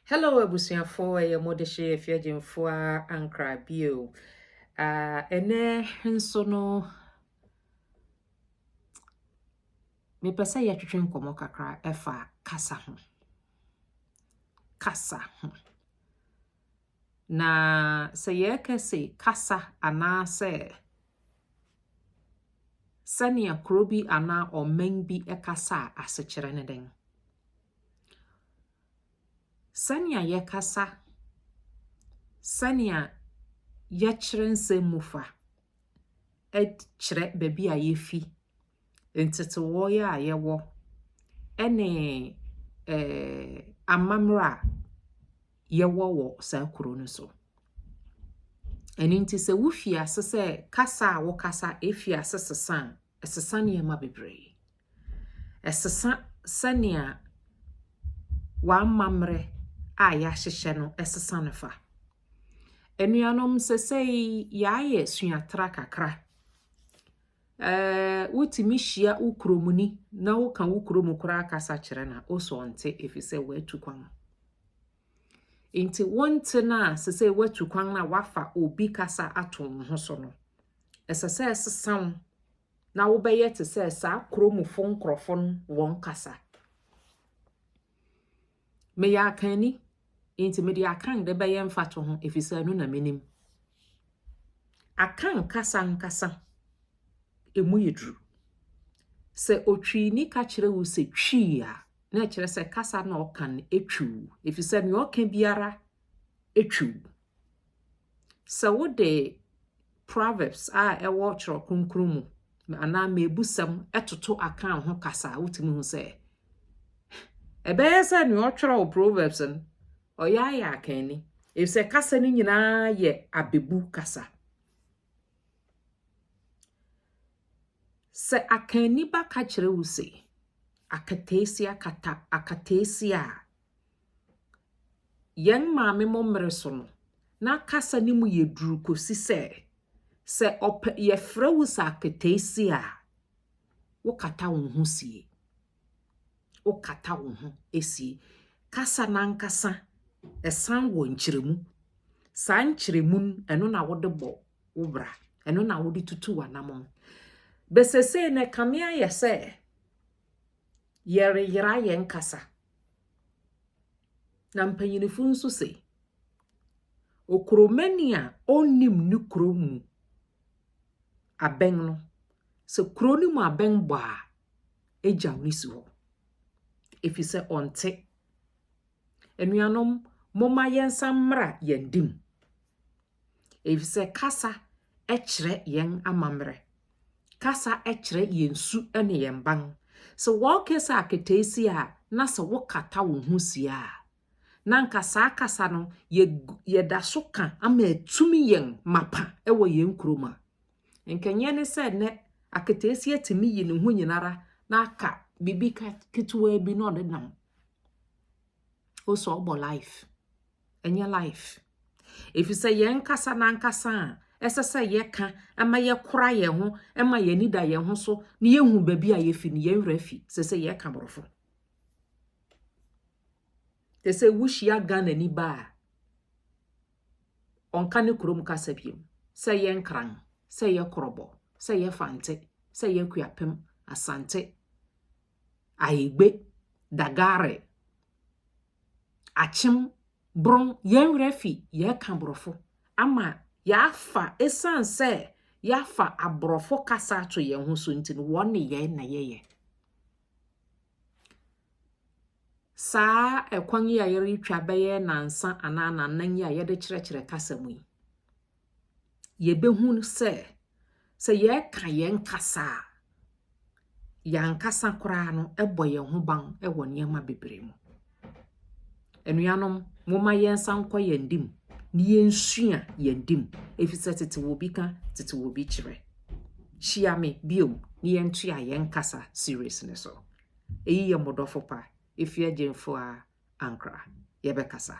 Hello abusuafo, ɛyɛ Modehye Afiagyemfoa Ankra bio. Uh, ɛnɛ nso no, mepɛ sɛ yɛtwetwe nkɔmmɔ kakra ɛfa kasa ho. Kasa ho. Na sɛ yɛka se kasa anaasɛ sɛnea kuro bi anaa ɔman bi kasa a, asekyerɛ ne dɛn? Sɛnea yɛkasa, sɛnea yɛkyerɛ nsɛm mu fa kyerɛ baabi a yɛfi. ntetewee a yɛwɔ ne amammerɛ a yɛwɔ wɔ saa kuro no so. Ɛno nti sɛ wofi ase sɛ kasa a wokasa fi ase sesa a, ɛsesa nneɛma bebree. Ɛsesa sɛnea w'amammerɛ a yɛahyehyɛ no ɛsesa no fa. Anuanom sɛsɛe yɛayɛ suatra kakra Wotumi hyia wo kuromni na woka wo kurom koraa kasa kyerɛ no a, wo so ɔnte efisɛ watu kwan. Nti wonte no a sɛ sɛ watu kwan no a wafa obi kasa ato wo ho so no, ɛsɛ sɛ ɛsesa wo na wobɛyɛ te sɛ saa kuromfo nkurɔfo no wɔn kasa. Meyɛ akanni, enti mede Akan de bɛyɛ mfatoho efisɛ ɛno na minim. Akan kasa ankasa, emu yɛ duru. Sɛ otwiini ka kyerɛ wo sɛ twi a, na ɛkyerɛ sɛ kasa na ɔka no twiw, efisɛ nea ɔka biara twiw. Sɛ wode Proverbs a ɛwɔ Twerɛ Kronkron mu anaa Mmebusɛm toto Akan ho kasa a, wotumi hu sɛ ɛbɛyɛ sɛ nea ɔtwerɛw Proverbs no, ɔyɛ ayɛ Akanni, efisɛ kasa no nyinaa yɛ abebu kasa. Sɛ Akanni ba ka kyerɛ wo se, akataasia kata akataasia a, Yɛn maame mo mmere so no, na kasa no mu yɛ duru kɔsi sɛ, sɛ ɔpɛ yɛfrɛ wo sɛ aketeesia a, wokata wo ho sie. Wokata wo ho sie. Kasa no ankasa, ɛsan wɔ nkyerɛmu. Saa nkyerɛmu no, ɛno na wode bɔ wo bra. Ɛno na wode tutu w'anamɔn. Bɛsesei no, ɛkame ayɛ sɛ, Yɛreyera yɛn kasa. Na mpanyinfo nso se, Okuromani a onnim ne kuro mu abɛn no, sɛ kuro no mu abɛn bɔ a, egyaw no si hɔ. Efi sɛ ɔnte. Anuanom, momma yɛnsan mmra yɛn de mu. efisɛ kasa kyerɛ yɛn amammerɛ. Kasa kyerɛ yɛn su ne yɛn ban. Sɛ wɔrekasa akataasi a, na sɛ wokata wo ho si a, na anka saa kasa no yɛda so ka ama atumi yɛn mapa wɔ yɛn kurom a. Nkɛnyɛ ne sɛ nnɛ akataasi atumi yi ne ho nyinara na aka biribi ketewaa bi na ɔde nam. o sɛ ɔbɔ life ɛnyɛ life ɛfiri sɛ yɛn nkasa na nkasa a ɛsɛ sɛ yɛka ɛma yɛkora yɛn ho ɛma yɛn ani da yɛn ho so na yɛhu baabi a yɛfi no yɛn werɛ afi sɛ sɛ yɛka borɔfo te sɛ wohyia Ghana ni ba a ɔnka ne kurom kasa biom sɛ yɛ nkran sɛ yɛ korɔbɔ sɛ yɛ fante sɛ yɛ kuapem asante Ayigbe, Dagare, Akyem, Brong, yɛn werɛ afi yɛreka Borɔfo ama yɛafa, ɛsiane sɛ yɛafa Aborɔfo kasa ato yɛn ho so nti no, wɔn ne yɛn na yɛyɛ. Saa ɛkwan yi a yɛretwa bɛyɛ nansa anaa nannan yi a yɛde kyerɛkyerɛ kasa mu yi, yɛbɛhu sɛ, sɛ yɛka yɛn kasa a, yɛn ankasa koraa no bɔ yɛn ho ban wɔ nneɛma bebree mu. Anuanom, momma yɛn nsa nkɔ yɛn dim na yɛnsua yɛn dim, efisɛ tete wɔ bi ka, tete wɔ bi kyerɛ. Hyia me bio na yɛntua yɛn kasa series no so. Eyi yɛ mo dɔfo pa, efi agyinfo a ankra. Yɛbɛkasa.